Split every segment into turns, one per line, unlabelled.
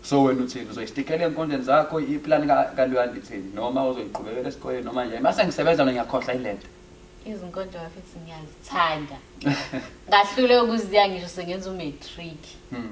So wena uthini uzoyistikela enkondleni zakho iplan ka kaluyandi thini noma uzoyiqhubekela esikoleni noma njani mase ngisebenza mina ngiyakhohlwa ilento izinkondlo
kafithi ngiyazithanda ngahlule ukuziya ngisho sengenza umatric hmm.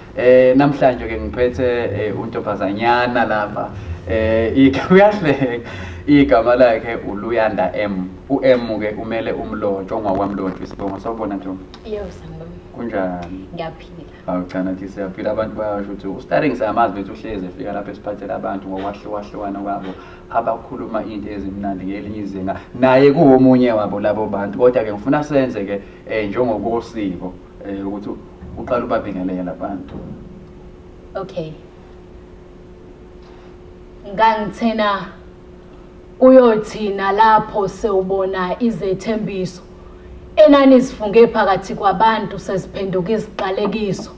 Eh namhlanje ke ngiphethe eh, untombazanyana lapha. Eh uyahleka igama lakhe uLuyanda M. UM ke umele umlotshwa ungakwamlotshwa isibongo sawubona Ntombi. Yebo sanibona.
Kunjani?
Ngiyaphila. Hawu
cha nathi
siyaphila abantu bayasho ukuthi uStarring siyamazi bethu uhlezi efika lapha esiphathela abantu ngokwahlukahlukana kwabo abakhuluma into ezimnandi ngelinye izinga naye kuwomunye wabo labo bantu kodwa ke ngifuna senze ke eh njengokosiko Eh ukuthi uqala ubabingelele labantu.
Okay. Ngangithena uyothina lapho sewubona izethembiso enani sifunge phakathi kwabantu sesiphenduka iziqalekiso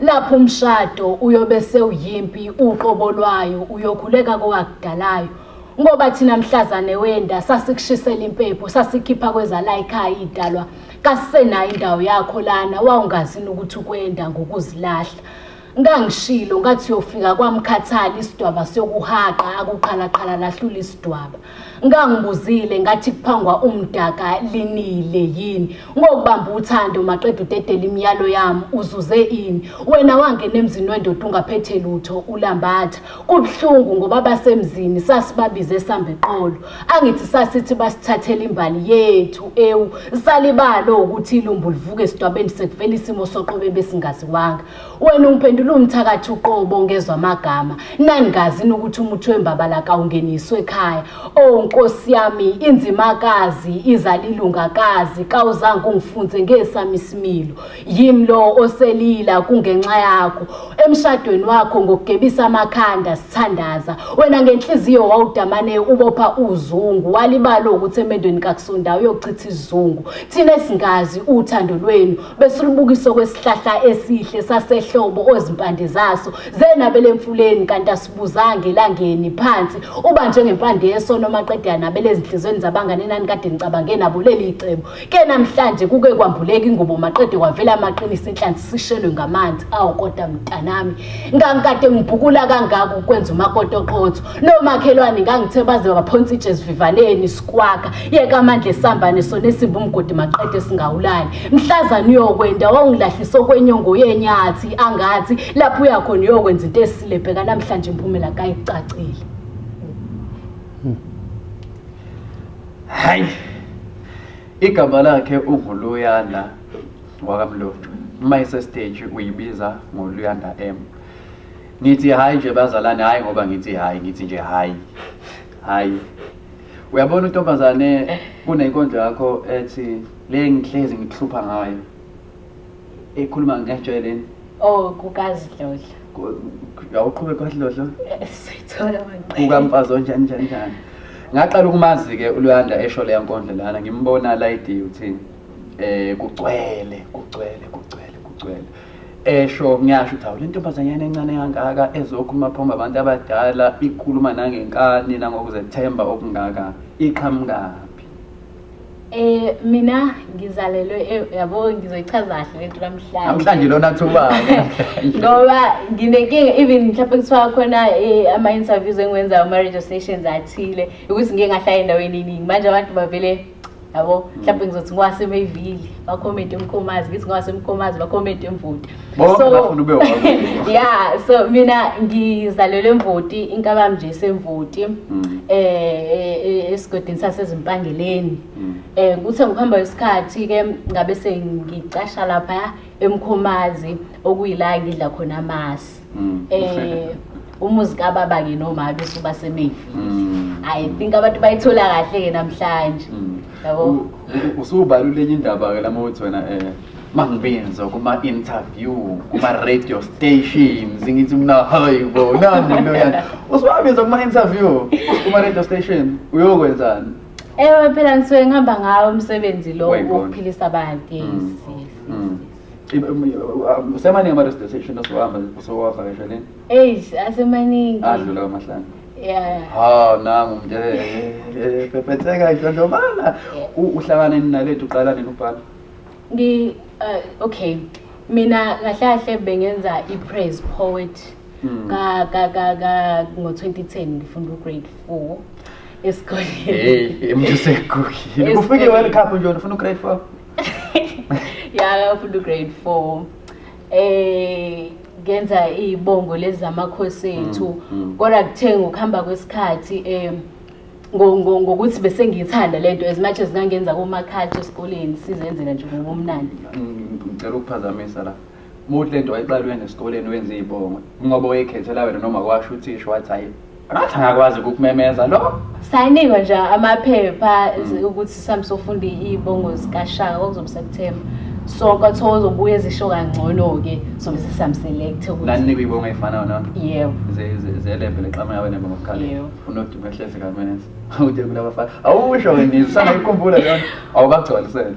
lapho umshado uyobe sewuyimpi uqobo lwayo uyokhuleka kowakudalayo ngoba thina mhlazane wenda sasikushisela impepho sasikhipha kwezala ikhaya idalwa kasisenayo indawo yakho lana wawungazi nokuthi ukwenda ngokuzilahla ngangishilo ngathi uyofika kwamkhathali isidwaba sokuhaqa akuqhalaqhala lahlula isidwaba ngangibuzile ngathi kuphangwa umdaka linile yini ngokubamba uthando maqeda udedela imiyalo yami uzuze ini wena wangena emzini wendoda ungaphethe lutho ulambatha Kubuhlungu ngoba basemzini sasibabize sambe qolo. Angithi sasithi basithathela imbali yethu ewu salibalo ukuthi ilumbu livuke esidwabeni sekuvela isimo soqobe besingaziwanga. Wena ungiphendula umthakathi uqobo ngezwe amagama. Nangazi ukuthi umuthi wembabala kawungeniswe ekhaya. Oh Nkosi yami inzimakazi izalilungakazi kawuzange ungifunze ngesami isimilo. Yimi lo oselila kungenxa yakho emshadweni wakho ngokugebisa amakhanda sithandaza wena ngenhliziyo wawudamane ubopha uzungu walibalo ukuthi emendweni kakusonda uyochitha izungu thina singazi uthando lwenu besilubukisa kwesihlahla esihle sasehlobo ozimpande zaso zenabele emfuleni kanti asibuzange elangeni phansi uba njengempande yesono maqedana belezinhlizweni zabangane nani kade nicabange nabo leli cebo ke namhlanje kuke kwambuleka ingubo maqede kwavela amaqinisa inhlanzi sishelwe ngamanzi awu kodwa mntanami ngangikade ngibhukula kangaka ukwenza umakoti oqotho nomakhelwane ngangithe baze baphonsa itshe esivivaneni sikwakha yeka amandla esambane sona esimba umgodi maqede singawulali mhlazana uyokwenda wawungilahlisa okwenyongo yenyathi angathi lapho uyakhona uyokwenza into esile bheka namhlanje imphumela kayicacile
hayi Igama lakhe uVuluyanda wakaMlotshwe. Uma isestage uyibiza ngoLuyanda M. Ngithi hayi nje bazalane hayi ngoba ngithi hayi ngithi nje hayi. Hayi. Uyabona untombazane kunenkonzo yakho ethi le ngihlezi ngikuhlupha ngayo. ekhuluma ngajwayeleni oh
kukazidlodla
awuqhube kwadlodla sithola
kukamfazi
onjani njani njani ngaqala ukumazi-ke uluyanda esho leya nkondlo lana ngimbona layidi uthini um kugcwele kugcwele kugcwele kugcwele esho ngiyasho ukuthi awu le ntombazanyana encane kangaka ezokhuluma phomba abantu abadala ikhuluma nangenkani nangokuzethemba okungaka iqhamukaphi Eh mina
ngizalelwe eh, yabo ngizoyichaza kahle lento namhlanje. Namhlanje lona
thuba. Ngoba
nginenkinga even mhlawumbe kuthiwa khona eh, ama interviews engiwenza ama radio stations athile ukuthi ngeke ngahlala endaweni eningi. Manje abantu bavele yabo mhlawumbe ngizothi ngwasemevili bakhomente umkhomazi ngithi ngwasemkhomazi bakhomente emvuta Bonke So- bafuna ube
wakho. ya so
mina ngizalelwe emvoti inkabami nje semvoti Mm. eh esigodini sasezimpangeleni Mm. eh kuthe ngokuhamba kwesikhathi ke ngabe sengicasha lapha emkhomazi okuyila ngidla khona amasi Mm. eh umuzi kababa ke noma bese uba semevi Mm. i think abantu bayithola kahle ke namhlanje Mm.
yabo U- u- Usubalule enye
indaba ke
lama uthi wena
eh
mangibinze kuma-interview kuma-radio stations ngithi mna hayi bo nani into yani usuwabiza kuma-interview kuma-radio station uyokwenzani ewe phela
ngisuke ngihamba ngawo umsebenzi lo Wayibona. wokuphilisa abantu yes, yes, yes, Mm. yes. I- um, uh,
usemaningi ama-radio station osuhamba usowavakasheleni eish asemaningi
adlula kwamahlanu
Yeah. haw
nangu mnje
pepetheka idlondlobala uhlangane ninalethu uqala nini ubhala Ngi uh, okay.
Mina kahle kahle bengenza i-praise poet hmm. ka ka ka ka ngo-2010 ngifunda ugrade 4 esikoleni hey emjusekukile
ufike world cup nje ufuna ugrade 4
ya ufuna ugrade 4 eh ngenza izibongo lezi zamakhosi ethu mm, mm. kodwa kuthe ngokuhamba kwesikhathi um ngokuthi bese ngiyithanda lento as much as ngangenza kuma culture esikoleni sizenzela nje ngokumnandi mm, ngicela
ukuphazamisa la muthi lento wayiqala wena esikoleni wenza izibongo ngoba wayekhethela wena noma kwasho uthisha wathi hayi ngathi angakwazi ukumemeza lo sayinikwa nje
amaphepha mm. ukuthi sami sofunda izibongo zikashaka okuzobe September so kwathiwa uzobuya ezisho kangcono-ke sobe sesihambiselekthe ukuthi nanikwa ibongo eyifanayo na
yebo
ze-level
exama yawe nembe ngokukhaleni unodumo ehlezi kamenes ude kulabafana awusho wena usangayikhumbula lona awubagcwalisele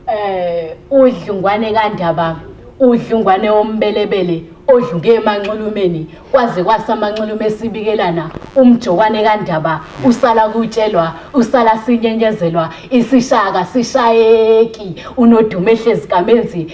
eh
udlungwane kandaba udlungwane wombelebele odlunge emanxulumeni kwaze kwasamanxulume esibikelana umjokwane kandaba usala kutshelwa usala sinyenyezelwa isishaka sishayeki unodumo ehlezi kamenzi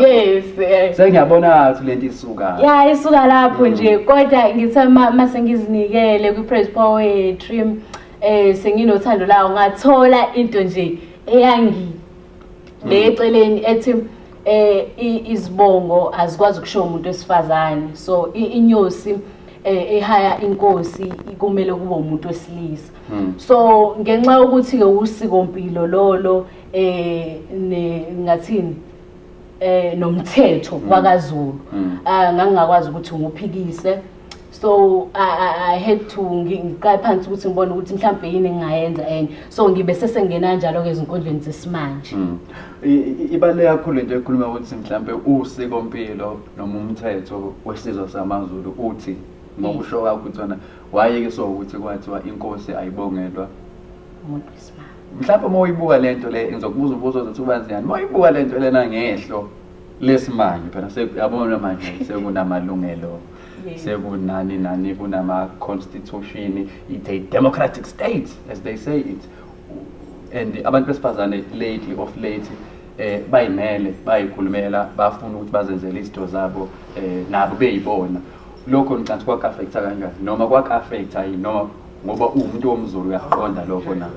yes eh. sengiyabona ukuthi lento isuka ya isuka lapho
nje mm. kodwa ngithe uma sengizinikele kwi-praise poetry um senginothando lawo ngathola into nje eyangi mm. le eceleni ethi eh izibongo azikwazi ukusho umuntu wesifazane so inyosi eh, ehaya inkosi kumele kube umuntu wesilisa hmm. so ngenxa yokuthi ke usiko mpilo lolo eh ne ngathini eh nomthetho mm. wakaZulu mm. ah ngangingakwazi ukuthi nguphikise so I, I had to ngiqale phansi ukuthi ngibone ukuthi mhlawumbe yini engingayenza enye so ngibe sesengena njalo ke ezinkundleni zesimanje mm.
ibale kakhulu nje ekhuluma ukuthi mhlawumbe usiko mpilo noma umthetho wesizwe samaZulu uthi ngokusho kwakho ukuthi wayeke so ukuthi kwathiwa inkosi ayibongelwa umuntu
mhlawumbe uma uyibuka
le nto le ngizokubuza ubuzo ozothi ubanjani uma uyibuka le nto lena ngehlo lesimanje phela yabona manje sekunamalungelo sekunani nani kunama-constitution it's a democratic state as they say it and abantu besifazane lately of late eh bayimele bayikhulumela bafuna ukuthi bazenzele izinto zabo eh nabo beyibona lokho ngicabanga kwaku-affecta kanjani noma kwaku-affecta yini noma ngoba uwumuntu womzulu uyakuqonda lokho na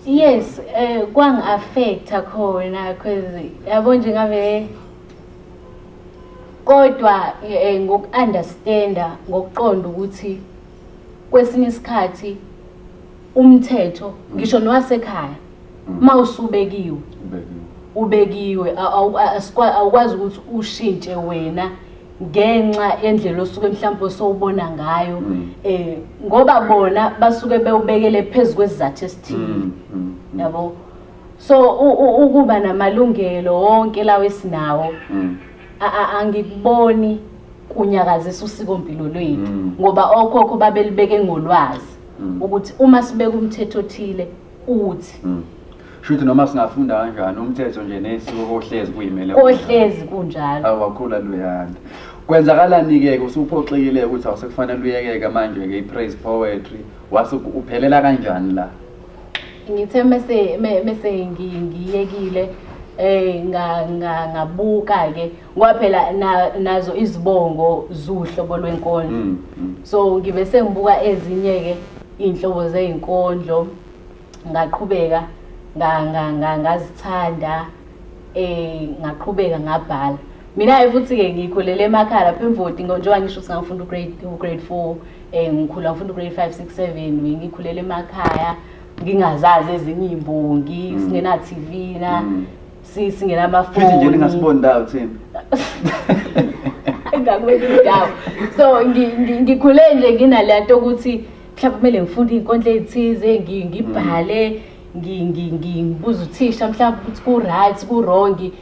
yes eh kwangi-affecta khona cause yabo nje ngabe kodwa eh, ngoku-understanda ngokuqonda ukuthi kwesinye isikhathi umthetho ngisho nowasekhaya uma usubekiwe ubekiwe awukwazi ukuthi ushintshe wena ngenxa yendlela osuke mhlawumbe osowubona ngayo um ngoba bona basuke bewubekele phezu kwesizathu esithile mm, mm, mm. yabo so ukuba namalungelo wonke lawo esinawo angikuboni kunyakazisa usiko mpilo lwethu ngoba okhokho babelibeke ngolwazi mm. ukuthi uma sibeka umthetho othile uthi mm. shuthi
noma singafunda kanjani umthetho nje nesiko kohlezi kuyimele kohlezi kunjalo
awakhula luyanda
kwenzakalani-ke usuphoxekile ukuthi awusekufanele uyekeke manje-ke i-praise poetry wase uphelela kanjani la ngithe
mese mese ngiyekile eh ngabuka ke ngoba phela nazo izibongo zuhlobo lwenkondlo mm, mm. so ngibe sengibuka ezinye-ke iy'nhlobo zey'nkondlo ngaqhubeka ngazithanda um ngaqhubeka ngabhala mina-ke futhi-ke ngikhulele emakhala phemvoti njengoba ngisho ukuthi ngangifunda ugrade four um ngikhula ngifunda ugrade five six seven ngikhulele emakhaya ngingazazi ezinye iy'mbongi mm. singena-tv na mm. si- singenamafoni Futhi nje ningasiboni ndawo
thina.
engakweli indawo so ngi- ngi- ngikhule nje nginaleya nto ukuthi mhlawumbe kumele ngifunde iy'nkondlo ey'thize ngi- ngibhale ngi- ngi- ngi- ngibuze uthisha mhlawumbe ukuthi ku-right ku-wrongi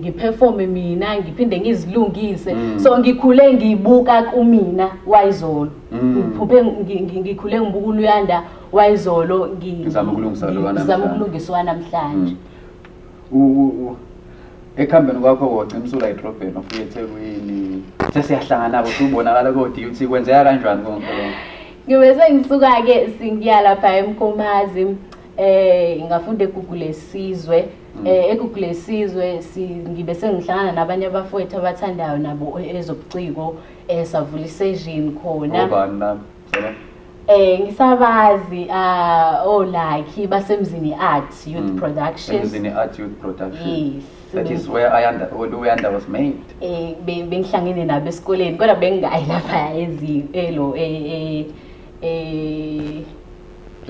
ngiphefome mina ngiphinde ngizilungise Mm. so ngikhule ngibuka kumina wayizolo Mm. ngiphuphe ngi- ngi- ngikhule ngibuka uluyanda wayizolo ngizama
ukulungiswa
namhlanje mm.
ekuhambeni kwakho wocimsula idrobheni ofika ethekwini sesiyahlangana-ko siwubonakala kodi ukuthi kwenzeka kanjani konke ngibe
sengisuka-ke singiya lapha emkomazi um eh, ngafunda egugu lesizwe um eh, egugu lesizwe ngibe sengihlangana nabanye abafowethu abathandayo nabo ezobuciko um savula iseshini khona
Eh ngisabazi
ah oh lucky basemzini art youth mm. production. Emzini art youth
production. Yes. That is
where I
under Luyanda was made. Eh bengihlangene
nabo esikoleni kodwa bengingayi lapha ezi elo eh eh, eh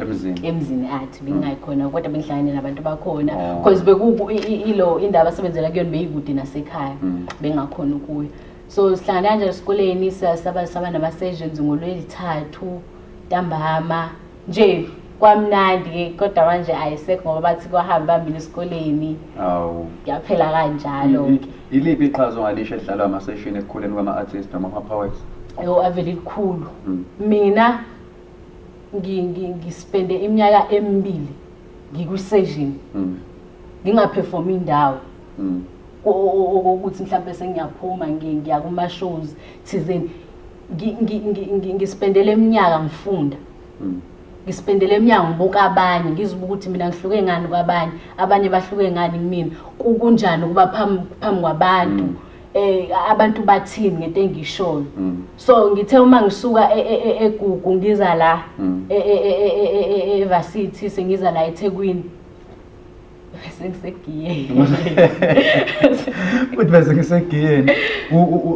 emzini emzini athi mm. bengayikhona kodwa bengihlangene nabantu bakhona oh. because beku ilo indaba asebenzela kuyona beyikude nasekhaya mm. bengakhona ukuyo so sihlangana kanjalo esikoleni saba saba nama-sessions ngolwezithathu ntambama nje kwamnandi-ke kodwa manje ayisekho ngoba bathi kwahambe bambile esikoleni awu yaphela kanjalo-ke iliphi iqhaza
ongalisho edlalwa amaseshini ekukhuleni kwama-artist noma ama-powers yo avele elikhulu
hmm. mina ngispende iminyaka emibili ngikwi-session hmm. ngingaphefoma indawo hmm. okokuthi mhlawumbe sengiyaphuma ngiya kuma-shows thizeni ngispendele iminyaka ngifunda hmm. ngispendele emnyango ngibuka abanye ngizibuka ukuthi mina ngihluke ngani kwabanye abanye bahluke ngani kumina kunjani ukuba phambi kwabantu um abantu bathini ngento engishoyo mm. so ngithe uma ngisuka e, e, e, egugu ngiza la mm. evarsity sengiza la ethekwini bese ngisegiyeni
uthi bese ngisegiyeni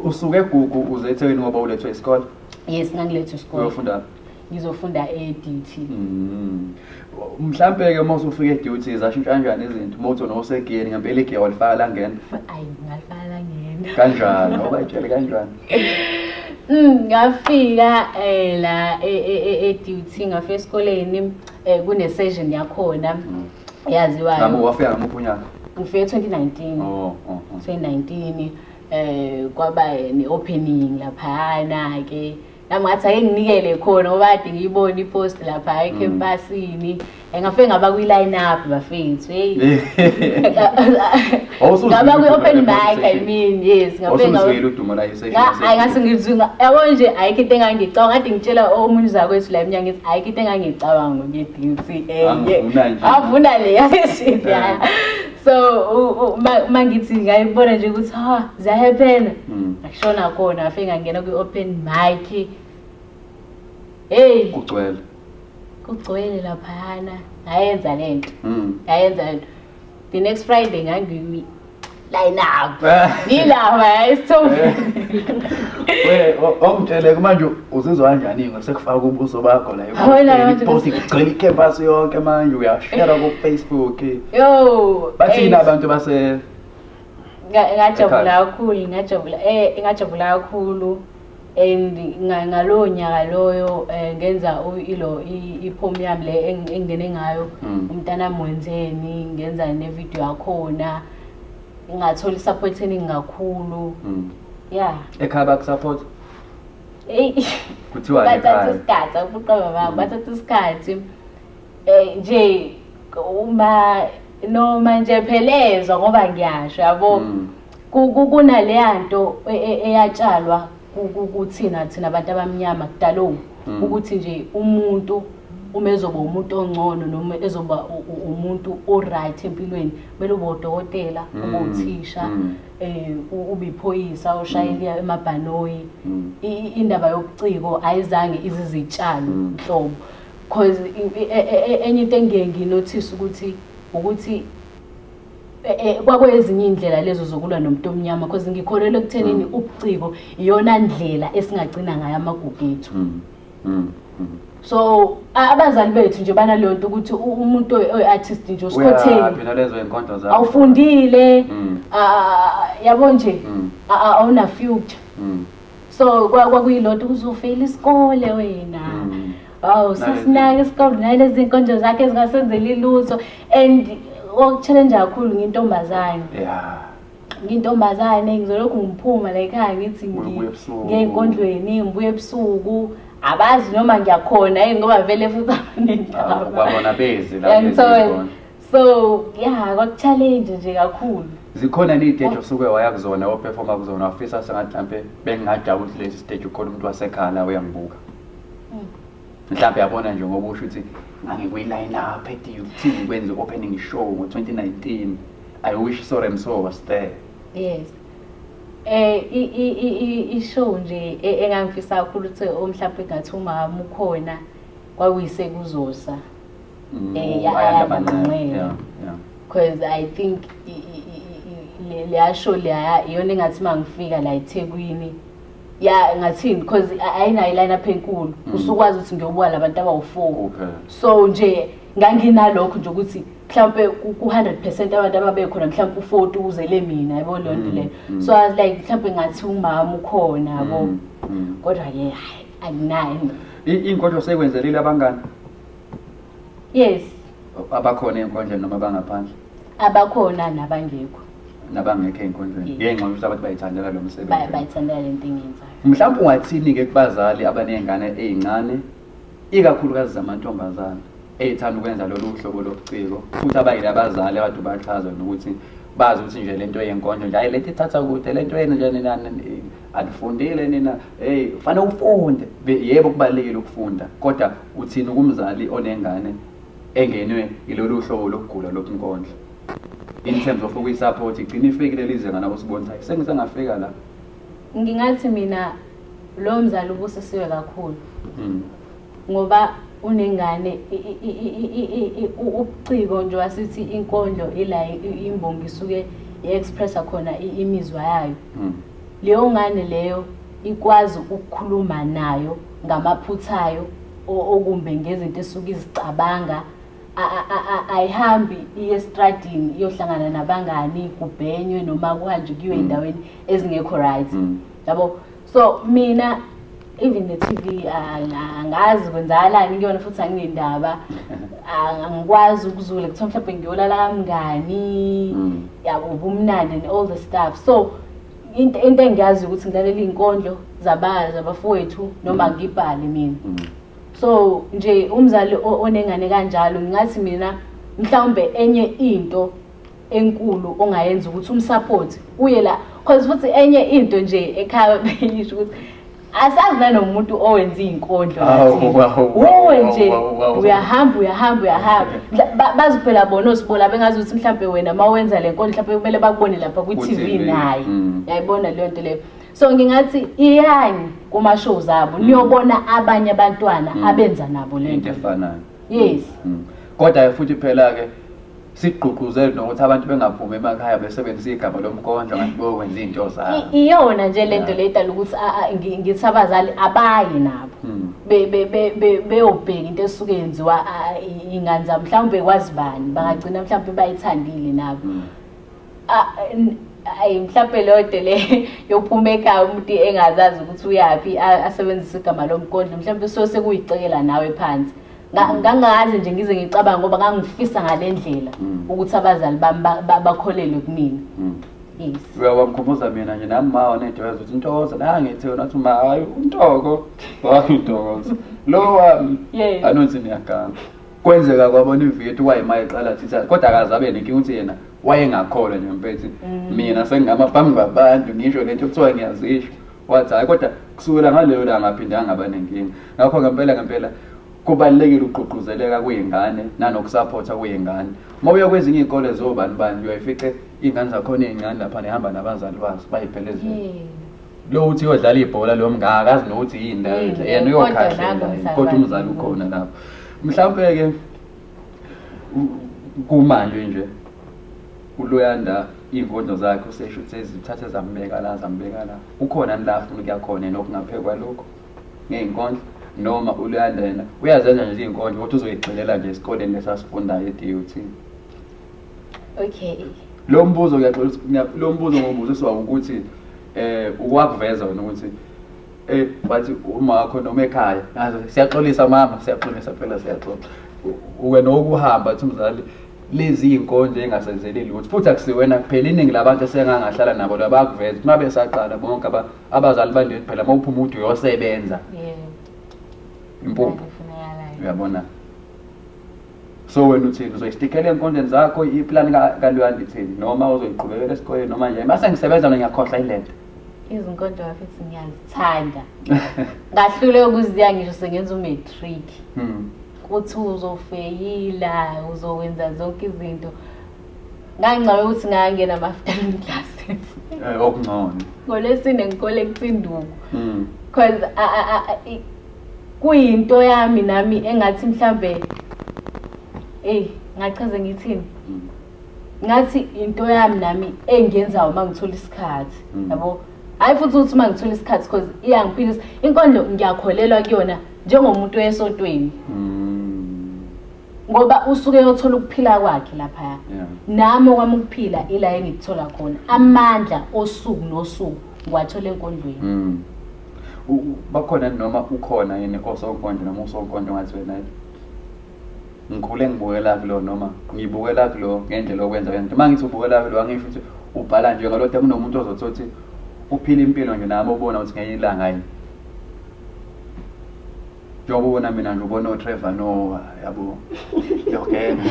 usuke egugu uze ethekwini ngoba ulethwe isikole yes ngangilethwe
isikole uyofunda
ngizofunda
e-DT mm.
mhlampe-ke uma usufika e-duty zashintsha kanjani izinto uma uthi nosegiyeni ngempela igiya walifaka la ngena ayi ngalifaka la
ngena kanjani obayitshele
kanjani Mm, ngafika
eh la e-duty e-, e-, ngafika esikoleni eh kune session yakhona mm. eyaziwayo Nabo wafika ngamuphi
unyaka? ngifike 2019 Oh,
oh, oh. 2019 eh kwaba ne-opening laphayana ke nami ngathi ake nginikele khona ngoba kade ngiyibona ipost lapha ekhempasini ngafike ngaba kwi-line up bafethu heyi ngaba kwi-open mic i mean yes ngabengawuzwile udumo
la hayi ngase ngizwi
yabo nje ayikho into engangicabanga ngathi ngitshela omunye uzakwethu la emnyango ethi ayikho into engangicabanga ngedinsi enye avuna le yaseshithi yaya so uma ngithi ngayibona nje ukuthi ha ziyahephena hmm. ngashona kona afe ngangena kwi-open mic heyi kugcwele kugcwele laphayana ngayenza le nto ngayenza hmm. le nto the next friday ngangimi line up ngilapha esithombeni we
omtshele manje uzizwa kanjani ngoba sekufaka ubuso bakho la post igcwele icampus yonke manje uyashare ku Facebook yo bathina abantu base ngajabula kakhulu
ngajabula eh ngajabula kakhulu and ngalowo nyaka loyo um ngenza ilo i-pom yami le engingene ngayo mm. umntana mwenzeni ngenza nevidiyo yakhona ngathola i-support eningi kakhulu mm. ya
ekhaya bakusupport eyi kuthiwa bathatha isikhathi
akuqaba babo mm. bathatha isikhathi um nje uma noma nje phelezwa ngoba ngiyasho yabo kunaleya nto e, e, eyatshalwa kuthina thina abantu abamnyama kudalowu hmm. ukuthi nje umuntu uma ezoba umuntu ongcono noma ezoba umuntu o-right empilweni kumele ube udokotela hmm. ube uthisha um ube iphoyisa oshayela hmm. emabhanoyi indaba yobuciko ayizange izizitshalo nhlobo because e, enye into engiyenginothisa ukuthi ukuthi Eh, eh, kwakwezinye indlela lezo zokulwa nomuntu omnyama because ngikholelwa ekuthenini mm. ubuciko iyona ndlela esingagcina ngayo amagugu ethu mm. Mm. so abazali bethu nje banaleyo nto ukuthi umuntu oyi-artist nje usikhotheniawufundile yabo nje awuna-future so kwakuyilonto uzofeyila isikole wena Wow, sasinake isikole naye lezi nkonzo zakhe zingasenzeli lutho and okuchallenge kakhulu ngintombazane. Yeah. Ngintombazane ngizolokhu ngiphuma la ekhaya ngithi ngiyekondlweni ngibuye ebusuku abazi noma ngiyakhona hey ngoba vele futhi abanendaba. Ah, babona bezi
la. Ngithola. So,
yeah, kwakuchallenge nje kakhulu. zikhona niy'teji
osuke waya kuzona ophefoma kuzona wafisa sengathi mhlampe bengingajabula ukuthi lesi siteji ukhona umuntu wasekhala uyangibuka mhlawumbe yabona nje ngoba usho ukuthi ngangikwiline up ethi ukuthini kwenza i-opening show ngo-2019 i wish sorry mso was there yes
eh i-show nje e-, engangifisa kakhulu ukuthi omhlawumbe ngathi umama ukhona kwakuyise kuzosa mm, eh yabanqela because i think leya show leya iyona engathi mangifika la eThekwini ya ngathini because ayinayo line up enkulu mm. usukwazi ukuthi ngiyobuka labantu abawu4 so nje nganginalokho nje ukuthi mhlawumbe ku-100% abantu ababekhona mhlawumbe u-40 uzele mina yabo leyo nto mm, leyo mm. so like mhlawumbe ngathi umama ukhona yabo kodwa ke hayi anginayo iy'nkondlo
sekwenzelile abangani
yes
abakhona ey'nkondleni noma bangaphandle abakhona
nabangekho nabangekho
ey'nkonzweni Yeah. ngenxa yokuthi abantu bayithandela lo Ba- msebenzi bayithandela le nto
engiyenzayo mhlawumbe ungathini-ke
kubazali abaney'ngane ey'ncane ikakhulukazi zamantombazane ey'thanda ukwenza lolu hlobo lobuciko futhi abayile abazali abantu bachaza nokuthi bazi ukuthi nje le nto yenkondlo nje hayi le nto ithatha kude le nto yenu nje nina ni- anifundile nina eyi kufanele ufunde Be- yebo kubalulekile ukufunda kodwa uthini kumzali onengane engenwe yilolu hlobo lokugula lokunkondla in terms of ukuyisupport igcina ifikile lizenga nabo sibonisa sengisengafika la ngingathi
mina lo mzali ubusisiwe kakhulu mm. ngoba unengane ubuciko nje wasithi inkondlo ila imbongi isuke i-expressa khona imizwa yayo mm. Leyongane leyo ikwazi ukukhuluma nayo ngamaphutha ayo okumbe ngezinto esuke izicabanga ayihambi iye estradini iyohlangana nabangani kubhenywe noma kuhanjwe kuyiwe endaweni ezingekho right mm. yabo so mina even the TV angazi kwenzakalani kuyona futhi anginendaba angikwazi ukuzula kuthiwa mhlawumbe ngiyolala kamngani mm. yabo ubumnandi and all the stuff so into into engiyazi ukuthi ngilalela izinkondlo zabazi abafowethu noma mm. ngibhale mina mm. so nje umzali onengane kanjalo ngingathi mina mhlawumbe enye into enkulu ongayenza ukuthi umsupport uye la cause futhi enye into nje ekhaya beyisho ukuthi asazi nanomuntu owenza izinkondlo wowe nje uyahamba uyahamba uyahamba baziphela bona osibola bengazi ukuthi mhlawumbe wena uma wenza le nkondlo mhlawumbe kumele bakubone lapha kwi-tv naye mm. yayibona leyo nto leyo so ngingathi iyani kuma-shows abo mm. niyobona abanye abantwana mm. abenza nabo le nto efanayo
yes
kodwa
futhi phela-ke sigqugquzele nokuthi abantu bengaphumi emakhaya besebenzisa igama lomkondlo kanti beyokwenza iy'nto zabo I- iyona nje le nto
Yeah. le idala ukuthi a- a- ngi- ngithi abazali abayi nabo Mm. Be- be- be- be- beyobheka into esuke yenziwa a- i- iy'ngane zabo mhlawumbe kwazi bani bangagcina mhlawumbe bayithandile nabo Mm. Ah, n- ayi mhlawumbe leyo nto le yophuma ekhaya umuntu engazazi ukuthi uyaphi a- asebenzise igama lomkondlo mhlawumbe so sekuyicekela nawe phansi ngangazi nje ngize ngicabanga ngoba ngangifisa ngale ndlela mm. ukuthi abazali bami bakholelwe kumina mm. yes uyawamkhumbuza
mina nje nami ma wanedweza ukuthi ntokoza la ngithi wena uthi ma hayi untoko wathi ntokoza lo wami yes anonsi niyaganga kwenzeka kwabona ivitu wayima eqala thitha kodwa akazabe nenkinga ukuthi yena wayengakholwa nje mpethi mm. mina sengingama phambi kwabantu ngisho lento kuthiwa ngiyazisho wathi hayi kodwa kusukela ngaleyo langa aphindanga ngaba nenkinga ngakho ngempela ngempela kubalekile ukugqugquzeleka kweingane nanokusaphotha kweingane uma uya kwezinye izikole zobani bani uyayifice ingane zakhona ezincane lapha nehamba nabazali bazo bayiphelezela lo uthi uyodlala ibhola lo mngaka akazi nokuthi yini la yena uyokhahlela kodwa umzali ukhona lapho mhlawumbe ke kumanje nje uloyanda iy'nkondlo zakhe usesho ukuthi sezithathe zambeka la zambeka la ukhona ni la afuna ukuya khona yena okungaphekwa lokho ngey'nkondlo noma uluyalela uyazenza nje iy'nkondlo kodwa uzoyigxilela nje esikoleni lesasifundayo e-dut okay
lo
mbuzo ngiyaxola lo mbuzo ngobuziswa ukuthi eh ukwakuveza wena ukuthi eh wathi uma wakho noma ekhaya ngaze siyaxolisa mama siyaxolisa phela siyaxoxa wena okuhamba athi umzali lezi iy'nkonzo engasenzeli lutho futhi akusiwena kuphela iningi labantu esengangahlala nabo labakuveza ukuthi uma besaqala bonke abazali bandethi phela uma uphuma ukuthi uyosebenza impuphu uyabona so wena uthini uzoyistikela ey'nkondleni zakho iplani kaluyandi thini noma uzoyiqhubekela esikoleni noma nje mase ngisebenza no ngiyakhohlwa ilento izinkondlo
bafethu ngiyazithanda ngahlule ukuziya ngisho sengenza umatric hmm. kuthi uzofeyila uzokwenza zonke izinto ngangicabanga ukuthi ngangena ama-afternoon classes eh, okungcono
ngolwesine
ngikole kucinduku hmm. because kuyinto yami nami engathi mhlambe eyi ngachaze ngithini hmm. ngathi into yami nami engiyenzayo uma ngithola isikhathi hmm. yabo hhayi futhi ukuthi uma ngithola isikhathi because iyangiphilisa inkondlo ngiyakholelwa kuyona njengomuntu esotweni mm. ngoba usuke yothola ukuphila kwakhe lapha yeah. nami okwami ukuphila ila engikuthola khona amandla osuku nosuku ngiwathola enkondlweni mm.
bakhona noma ukhona yini osonkondlo noma usonkondlo ngathi wena ngikhule ngibukela kulo noma ngibukela kulo ngendlela okwenza yona uma ngithi ubukela kulo angisho ukuthi ubhala nje ngalodwa kunomuntu ozothi uphila impilo nje nami obona ukuthi ngenye ilanga yini njengoba ubona mina nje ubona otrevor nowa yabo yogenga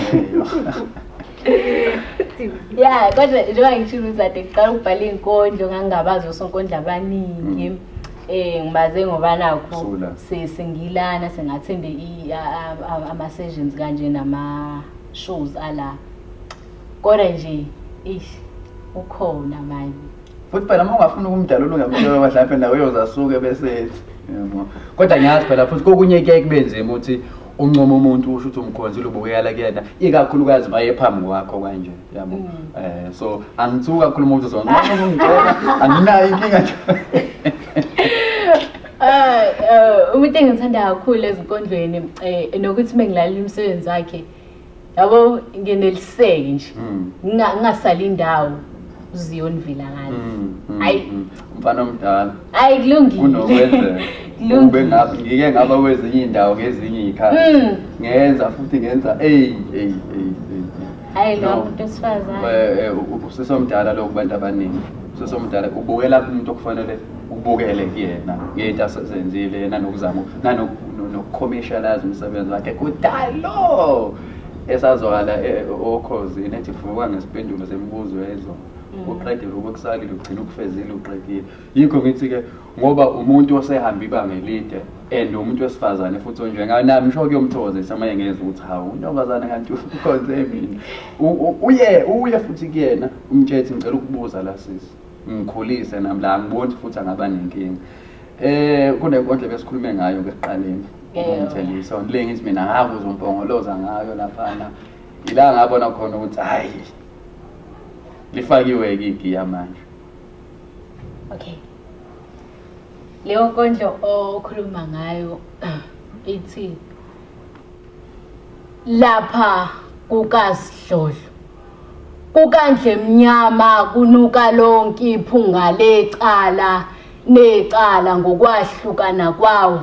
ya kodwa njengoba ngishilo uzade kuqala ukubhala iy'nkondlo ngangingabazi osonkondla abaningi mm. eh ngibaze ngoba nakho sesingilana singathembe ama sessions kanje nama shows ala kodwa nje ish ukhona manje futhi phela uma ungafuni
ukumdala ulungemtshela mhlawumbe nawe uyozasuke besethi yebo kodwa ngiyazi phela futhi kokunye kuyaye kube nzima ukuthi uncoma umuntu usho ukuthi umkhonzile ubukela kuyena ikakhulukazi maye phambi kwakho kanje yabo Mm. eh so angithuki kakhulu umuntu zonke uma ungicela anginayo inkinga nje Ah,
eh, umuntu engithanda kakhulu ezinkondlweni eh nokuthi mengilala umsebenzi wakhe yabo ngeneliseke nje mm. ngingasali indawo uziyoni vilakani mm, mm, hayi mfana omdala
hayi kulungile
unokwenzeka
ube ngabe ngike ngaba kwezinye indawo ngezinye ikhaya ngenza futhi ngenza ey ey ey hayi
lo muntu esifazane eh, eh, usesomdala
lo kubantu abaningi usesomdala ubukela umuntu okufanele ubukele kuyena ngeyinto asezenzile yena nokuzama nanokukhomishalaza umsebenzi wakhe kudalo esazwakala eh, okhozini nethi fuka ngesipendulo semibuzo yezona mm. uqedile ukukusalile ugcina ukufezile uqedile yikho ngithi-ke ngoba umuntu osehamba ibanga elide and umuntu wesifazane futhi onjengayo nami sho kuyomthokozisa uma engeza ukuthi hawu untombazane kanti ukhonze mina uye uye futhi kuyena umtshethi ngicela ukubuza la sisi ngikhulise nami la angiboni futhi angaba nenkinga eh kunenkondlo besikhulume ngayo ngesiqaleni umthelisa le ngithi mina ngakuze umpongoloza ngayo laphana ila ngabona khona ukuthi hayi lifakiwe-ke igiya manje
okay leyo nkondlo okhuluma ngayo ithi lapha kukasidlodlo KukaNdlemnyama kunuka lonke iphunga lecala necala ngokwahlukana kwawo.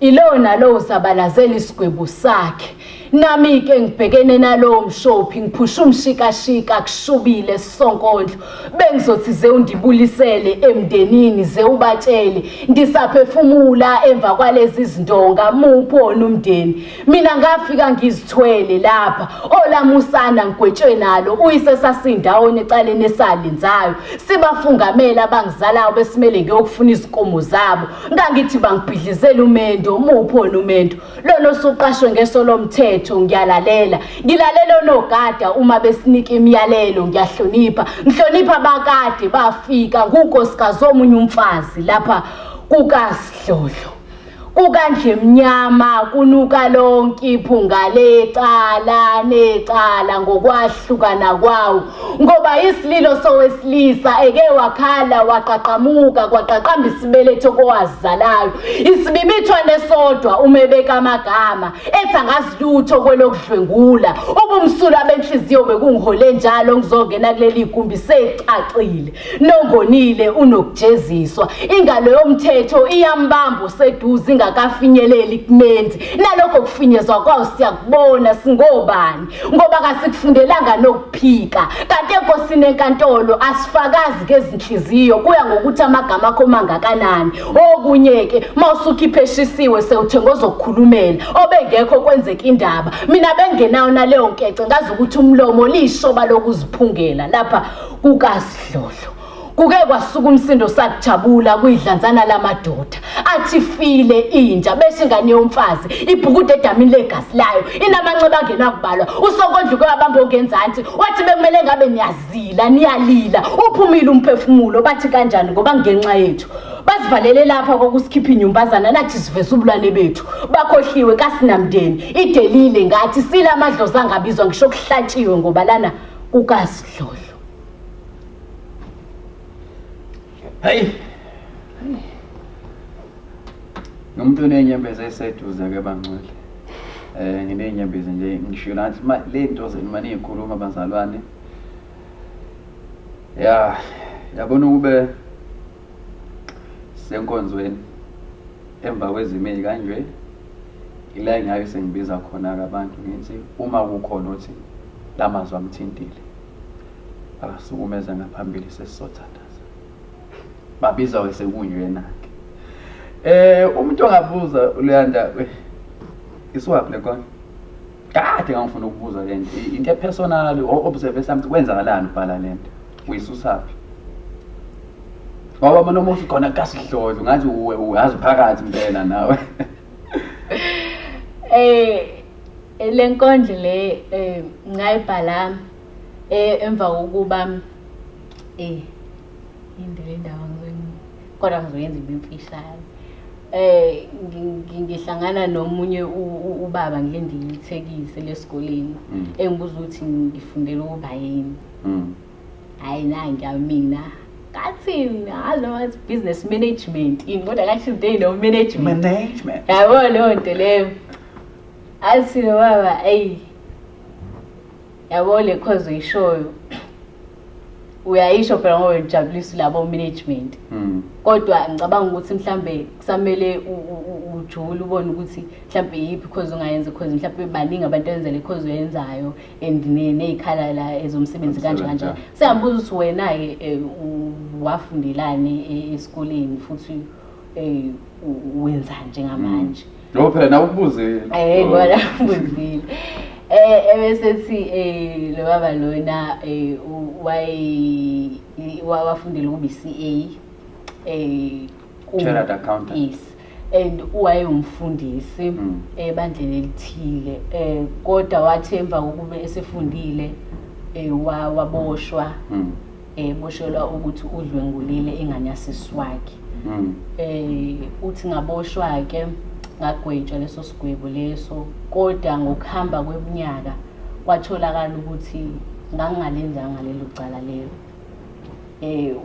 Ilowo nalowo uzabalazela isigwebo sakhe. Nami-ke ngibhekene nalowo mshophi, ngiphusha umshikashika kushubile esonkondlo. bengizothi ze undibulisele emndenini ze ubatshele ngisaphefumula emva kwalezi zindonga muphi wona umndeni mina ngafika ngizithwele lapha olamusana ngigwetshwe nalo uyise sasindawonye ecaleni esalenzayo sibafungamela abangizalayo besimele ngiyokufuna izinkomo zabo ngangithi bangibhidlizela umendo muphi wona umendo lona osuqashwe ngeso lomthetho ngiyalalela ngilalela onogada uma besinika imiyalelo ngiyahlonipha ngihlonipha abakade bafika kunkosikazi omunye umfazi lapha kukasidlodlo kukandle mnyama kunuka lonke iphunga lecala necala ngokwahlukana kwawo ngoba isililo sowesilisa eke wakhala waqaqamuka kwaqaqamba isibeletho kowazizalayo isibibithwane sodwa uma ebeka amagama ethi angazilutho kwelokudlwengula ubumsulwa benhliziyo bekungihole njalo ngizongena kuleli gumbi secacile Nongonile unokujeziswa. Ingalo yomthetho iyambamba useduze ingakafinyeleli kumenzi. Nalokho kufinyezwa kwawo siyakubona singobani ngoba kasikufundelanga nokuphika. Kanti enkosini enkantolo asifakazi kezinhliziyo kuya ngokuthi amagama akho mangakanani. Okunye ke mawusukhiphe eshisiwe sewuthenga ozokukhulumela obengekho kwenzeka indaba. Mina bengenayo naleyo nkece ngazi ukuthi umlomo lishoba lokuziphungela lapha kukasidlodlo kuke kwasuka umsindo sakujabula kuyidlanzana lamadoda athi file inja beshe ingane yomfazi ibhukude edamini legazi layo inamanxeba angenakubalwa usokondla uke wabamba ongenzansi wathi bekumele ngabe niyazila niyalila uphumile umphefumulo bathi kanjani ngoba ngenxa yethu basivalele lapha kwakusikhipha inyumbazana lathi siveza ubulwane bethu bakhohliwe kasinamndeni idelile ngathi sila amadlozi angabizwa ngisho kuhlatshiwe ngoba lana kukasidlodlo
hayi nomuntu oney'nyembezi eseduze ke bangcwele um nginey'nyembezi nje ngisho nathi ley'nto zenu uma niy'khuluma bazalwane ya yabona ukube senkonzweni emva kwezimo ey'kanje ila engake sengibiza khona-ke abantu ngithi uma kukhona othi la mazwi amthintile akasukumeza ngaphambili sesizothandaza babiza-ke sekunjena-ke um umuntu ongabuza uluyanda isiwaphi le nkondlo kade ngangifuna ukubuza le nto I- into epersonal o-observe something kwenzakalani ubhala le nto uyisusaphi ngoba mona umuthi khona kasidlodlo ngathi uwe uyazi phakathi impela nawe eh
eh, le nkondlo le eh ngayibhala eh emva kokuba eh indele indawo ngizoyi kodwa ngizoyenza ibe mfishane eh ngihlangana nomunye ubaba ngile ndiyithekise lesikoleni mm. engibuza ukuthi ngifundela ukuba yini mm. hayi na ngiyamina kathini alo wathi business management yini kodwa kathi they no management management yabo leyo nto leyo athi baba eyi yabo le cause uyishoyo uyayisho phela ngoba ujabulisa labo management hmm. kodwa ngicabanga ukuthi mhlambe kusamele ujule ubone ukuthi mhlambe yiphi cause ungayenza cause mhlambe baningi abantu abenza le cause oyenzayo and nezikhala la ezomsebenzi kanje kanje sengambuza ukuthi wena ke eh, wafundelani e-, esikoleni futhi eh, wenzani njengamanje hmm. No phela nawe
ukubuzile. Eh ngona
ubuzile. Eh ebesethi eh lo baba lona eh waye wafundela ukuba iCA eh
Chartered accountant. Yes. and
wayewumfundisi mm. ebandleni elithile um kodwa wathi emva kokuba esefundile um waboshwa mm. eboshelwa ukuthi udlwengulile ingane yasiswakhe mm. eh uthi ngaboshwa ke ngagwetshwa leso sigwebo leso kodwa ngokuhamba kweminyaka kwatholakala ukuthi ngangingalenzanga lelo cala lelo eh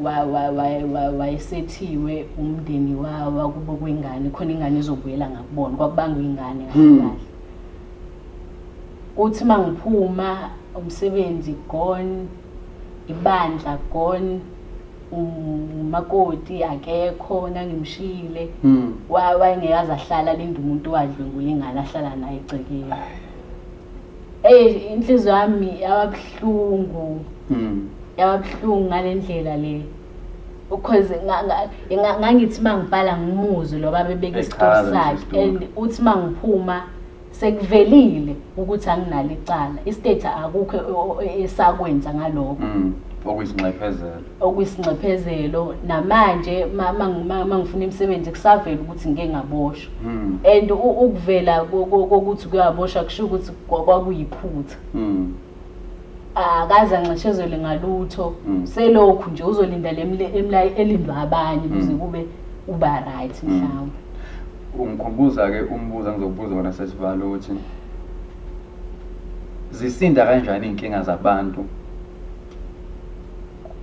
wayesethiwe umndeni wawa kubo kwengane khona ingane izobuyela ngakubona kwakubanga ingane hmm. kahle uthi mangiphuma umsebenzi gone ibandla gone umakoti akekho nangimshiyile mm. wayengeke aze ahlala linde umuntu wadlwengula ingane ahlala naye egcekeni eyi inhliziyo yami yababuhlungu mm. yababuhlungu ngale ndlela le because ngangithi uma ngibhala ngimuzwe lo baba ebeka isitoro sakhe and uthi uma ngiphuma sekuvelile ukuthi anginalo icala istate akukho esakwenza ngalokho mm, okuyisinxephezelo okuyisinxephezelo namanje mangifuna imisebenzi kusavela ukuthi ngike ngaboshwa mm. and ukuvela kokuthi kuyaboshwa kusho ukuthi kwakuyiphutha mm. akaze anxeshezele ngalutho selokhu nje uzolinda le elindwa abanye kuze kube uba right mhlawumbe
Ungikhumbuza-ke umbuzo engizokubuza wona sesivalo ukuthi zisinda kanjani iy'nkinga zabantu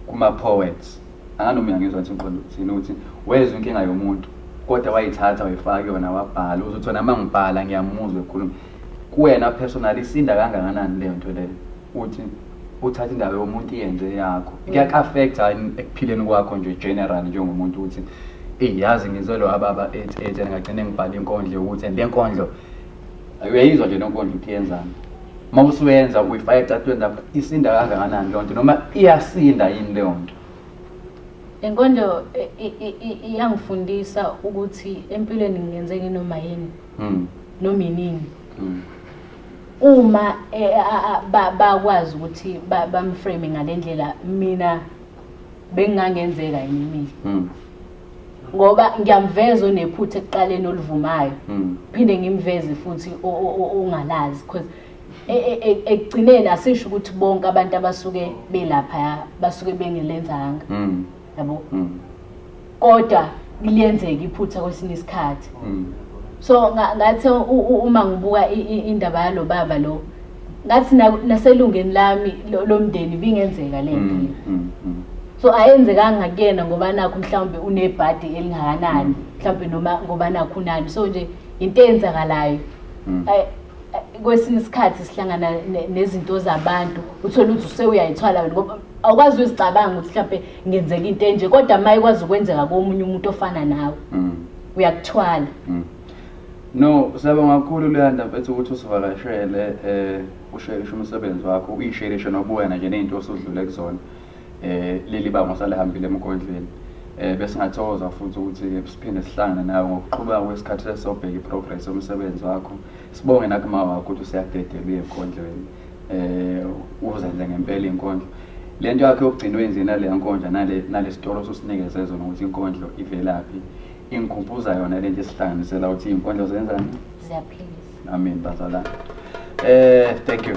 kuma-poets anganoma uyangizwa ukuthi ngiqonda ukuthini ukuthi wezwa inkinga yomuntu kodwa wayithatha wayifaka kuyona wabhala uzothi wena uma ngibhala ngiyamuzwa ekhuluma kuwena personal isinda kangakanani leyo nto leyo uthi uthatha indawo yomuntu iyenze yakho mm. kuyaku-affect hayi ekuphileni kwakho nje general njengomuntu ukuthi eyi yazi ngizelwe ababa ethi ethi ngagcine ngibhale inkondlo yokuthi and le nkondlo uyayizwa nje lenkondlo ukuthi yenzani uma usuyenza uyifaka ecatweni lapho isinda kangakanani leyo nto noma iyasinda yini leyo nto
inkondlo iyangifundisa ukuthi empilweni ngingenze nginoma yini hmm. noma inini hmm. Uma bakwazi ukuthi bamframe ngalendlela mina bengangenzeka yini mina. Hmm. Ngoba ngiyamveza onephutha ekuqaleni olivumayo. Hmm. Phinde ngimveze futhi ongalazi because e, e, e, ekugcineni asisho ukuthi bonke abantu abasuke belapha basuke bengelenzanga. Hmm. yabo mm. kodwa liyenzeka iphutha kwesinye isikhathi mm. so ngathi uma ngibuka indaba yalo baba lo ngathi naselungeni lami lomndeni bingenzeka le nto mm, so ayenzekanga kuyena ngoba nakho mhlawumbe unebhadi elingakanani mhlawumbe noma ngoba nakho unani so nje into eyenzakalayo kwesinye isikhathi sihlangana nezinto zabantu uthole ukuthi usewuyayithwala wena ngoba awukwazi uzicabanga ukuthi mhlawumbe ngenzeka into enje kodwa uma ikwazi ukwenzeka komunye umuntu ofana nawe mm. uyakuthwala mm.
no siyabonga kakhulu luyanda mfethu ukuthi usivakashele um ushelishe umsebenzi wakho uyishelishe nobuwena nje ney'nto osudlule kuzona um leli banga osalihambile emkondleni eh besingathokoza futhi ukuthi siphinde sihlangane nawe ngokuqhubeka kwesikhathi sesobheka iprogress yomsebenzi wakho sibonge nakuma wakho ukuthi useyadedelwe enkondlweni um uzadla ngempela inkondlo le nto yakhe yokugcina wenzeni naleya nkondla nalesitolo ososinikeze zona ukuthi inkondlo ivelaphi ingikhumbuza yona le nto esihlanganisela ukuthi iy'nkondlo zenzani ziyaphilisa
amen bazalana
um thank you